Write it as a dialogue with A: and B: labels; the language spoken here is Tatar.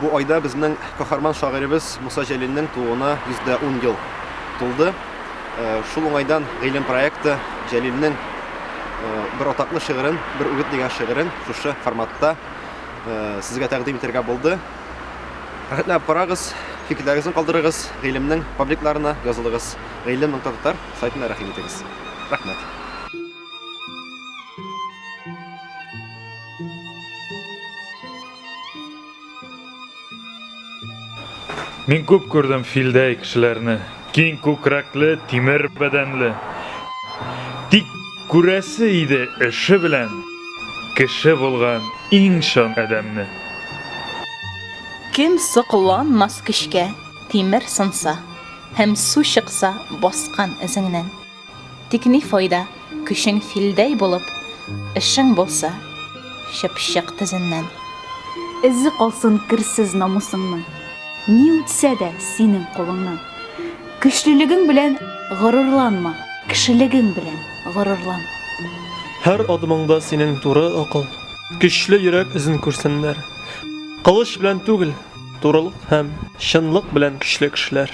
A: Бу айда безнең каһарман шагыйребез Муса Җәлилнең тууына 110 ел тулды. Э, шул уңайдан гыйлем проекты Җәлилнең э, бер атаклы шигырен, бер үгет дигән шигырен шушы форматта э, сезгә тәкъдим итәргә булды. Рәхмәтләп карагыз, фикерләрегезне калдырыгыз, гыйлемнең пабликларына язылыгыз. Гыйлем.татар сайтына рәхим итегез. Рәхмәт.
B: Мин күп күрдем филдәй кешеләрне. Киң күкрәкле, тимер бәдәнле. Тик күрәсе иде эше белән кеше булган иң чын адәмне. Кем
C: сокланмас көчкә, тимер сынса һәм су чыкса баскан эзеңнән. Тик ни файда, көчең филдәй булып, Эшең булса, чыпчык тезеннән. Эзе
D: калсын керсез намусыңның, Ни үтсә дә синең кулыңнан. Көчлелегең белән горурланма, Кешелегең белән горурлан. Һәр
E: адымыңда синең туры акыл, Көчле йөрәк эзен күрсеннәр. Кылыч белән түгел, турылык һәм Чынлык белән көчле кешеләр.